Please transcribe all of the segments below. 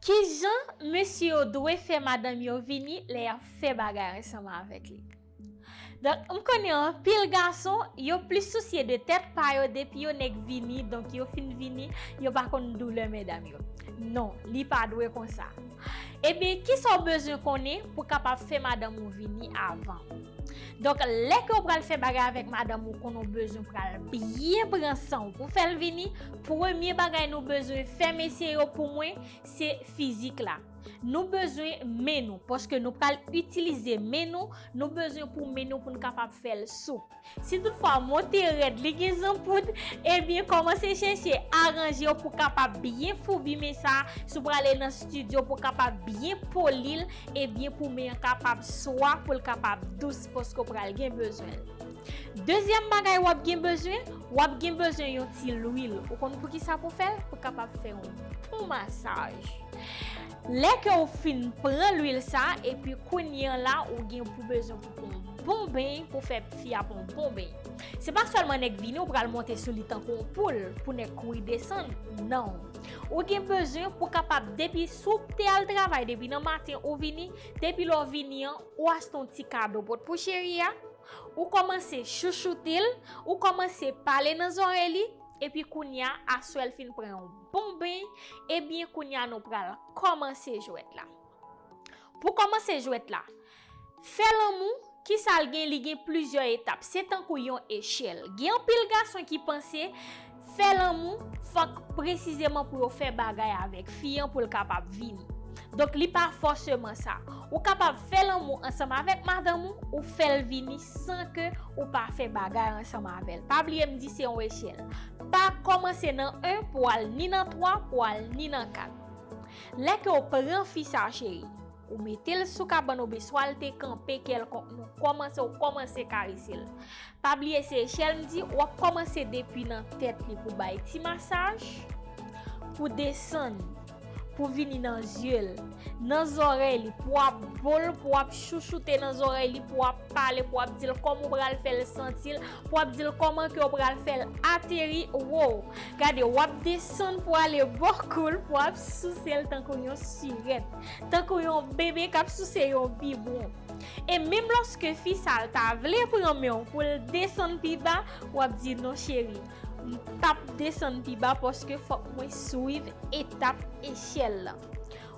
Kijan mesye yo dwe fè madanm yo vini lè yap fè bagay ansanm avèk li? Donk m konnen anpil gason yo plis sousye de tèt pa yo depi yo nèk vini donk yo fin vini yo pa konn doulè medam yo non li pa dwe konsa ebyen kisa w bezwen konnen pou kapab fè madanm ou vini avan donk lè ke w pral fè bagay avèk madanm ou konnen w bezwen pral byen pran san w pou fè l vini Premye bagay nou bezwen fè mesye yo pou mwen se fizik la. Nou bezwen men nou paske nou pral itilize men nou, nou bezwen pou men nou pou nou kapab fè l sou. Si tout fwa monte rèd li gen zanpout, ebyen kòmanse chèche aranje w pou kapab byen foubi men sa, si w prale nan stidyo pou kapab byen poli l, ebyen pou men an kapab swa pou l kapab dous paske w pral gen bezwen l. Dezyèm bagay wap gen bezwen, wap gen bezwen yon ti lwil. Ou konn poukisa pou fèl? Pou kapab fè yon bon masaj. Lè ke ou fin pran lwil sa, epi kounye an la ou gen pou bezwen pou pran yon bon beny pou fè fi a pran yon bon beny. Se pa sèlman nèk vini ou pral monte sou li tankou yon poul pou nèk kouri desann, nan. Ou gen bezwen pou kapab depi si w te al travay depi nan maten ou vini, depi lè w vini an ou achte yon ti kado pot pou cheri a, Ou kòmanse chouchoute l, ou kòmanse pale nan zòrèy li, epi kounya aswè l fin pran yon bon beny, ebyen kounya nou pral kòmanse jwèt la. Pou kòmanse jwèt la, fè lanmou, kisa l gen, li gen plizyè etap, se tankou yon echèl. Gen anpil gason ki panse. Fè lanmou, fòk presizeman pou yo fè bagay avèk fi an pou l kapab vini. Donk li pa fòseman sa. Ou kapab fè lanmou ansanm avèk madanm ou, ou fè l vini san ke ou pa fè bagay ansanm avè l. Pa bliye m di se yon echèl. Pa kòmanse nan 1 pou al ni nan 3 pou al ni nan 4. Lè ke w pran fi sa cheri. Ou mete l sou kabann ou beswa l te kanpe kèlkonk nou kòmanse ou kòmanse karese l. Pa bliye se echèl m di w ap kòmanse depi nan tèt li pou bay ti masaj, pou desann, pou vini nan zye l, nan zòrèy li pou w ap bo l, pou w ap chouchoute nan zòrèy li, pou w ap pale, pou w ap di l kòman ou pral fè l santi l, pou w ap di l kòman ke ou pral fè l ateri woo. Gade w ap desann pou ale bò kou l pou w ap souse l tankou yon sirèt. tankou yon bebe k ap souse yon bibwon. E menm lòske fi sa a ta vle pran men w pou l desann pi ba, w ap di, Non cheri, m p ap desann pi ba paske fòk mwen swiv etap echèl la.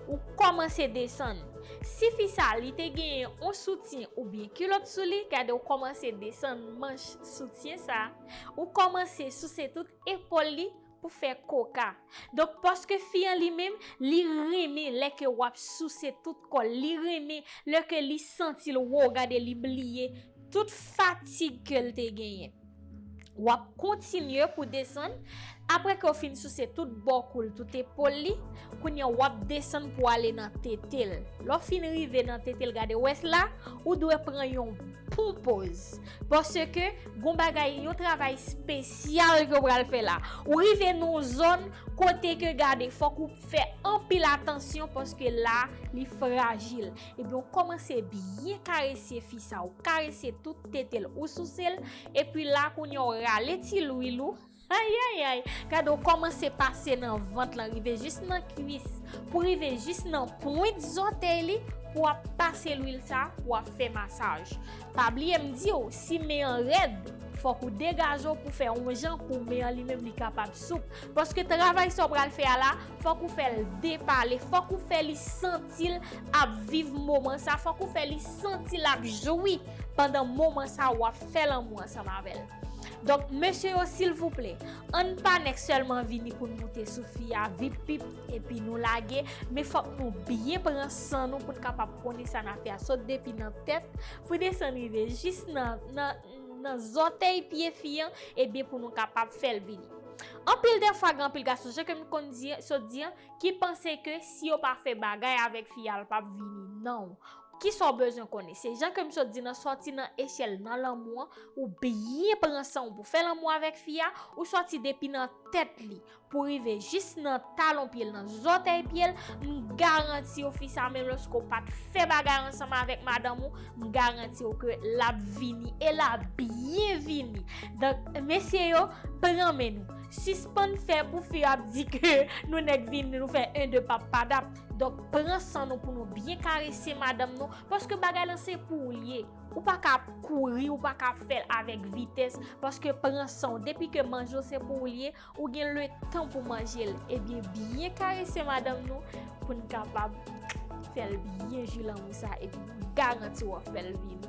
Ou kòmanse desann. Si fi sa a li te genyen yon soutyen oubyen kilòt sou li, gade w kòmanse desann manch soutyen sa a, ou kòmanse souse tout epòl li, Pou fè koka. Donk paske fi an li menm, li renmen lè ke wap souse tout kò l, li renmen lè ke li santi l woo gade li bliye tout fatig ke l te genyen. Wap kontinye pou desann, apre ke w fin souse tout bò kou l, tout epol li, kounye a wap desann pou ale nan tete l. Lè w fin rive nan tete l gade wè s la, ou dwe pran yon bon poz. Paske Gon bagay, yon travay spesyal ke w pral fè la. Ou rive nan yon zòn kote ke gade fòk ou fè anpil atansyon paske la li frajil. Ebyen ou kòmanse byen karese fi sa, ou karese tout tete l, ou souse l, epi la kounye a ou rale ti lwil ou. Ayayay gade w kòmanse pase nan vant lan rive jis nan kwis pou rive jis nan pwent zòtèy li pou wap pase lwil sa pou wap fè masaj pa bliye m di w si men an rèd fòk ou degaje w pou fè on jan pou men an li menm li kapab soup paske travay sa w pral fè a la fòk ou fè l depale fòk ou fè li santi l ap viv moman sa fòk ou fè li santi l ap jwi pandan moman sa wap fè lanmou ansanm avè l. Donk mesye yo silvouplè ann pa nèk sèlman vini poun moute sou fi a vip pip epi nou lage men fòk nou byen pran san nou poun kapab konnen sa nap fè a sot depi nan tèt pou desann rive jis nan zòtèy pye fi an ebyen pou nou kapab fèl vini anpil dèfwa gen anpil gason jan kem konn sot di an ki panse ke si yo pa fè bagay avèk fi a l pap vini nan. Kisa w bezwen konnen? Se jan ke m sot di nan sòti nan echèl nan lanmou an, ou byen pran san w pou fè lanmou avèk fi a, ou sòti depi nan tèt li pou rive jis nan talon pye l nan zòtèy pye l, m garanti w fi sa menm lòske w pat fè bagay ansanm avèk madanm ou, m garanti w ke l ap vini e l ap byen vini. Donk mesye yo, pran men nou. Sispann fè pou fi yo ap di ke nou nèk vini nou fè 1 2 pap padap. Donk pran san nou pou nou byen karese madanm nou paske bagay lan se pou ou li ye. Ou pa ka ap kouri, ou pa ka ap fè l avèk vitès paske pran san ou. Depi ke manje ou se pou ou li ye, ou gen le tan pou manje l. Ebyen byen karese madanm nou pou n kapab fè l byen jwi lanmou sa a epi m garanti w w ap fè l vini.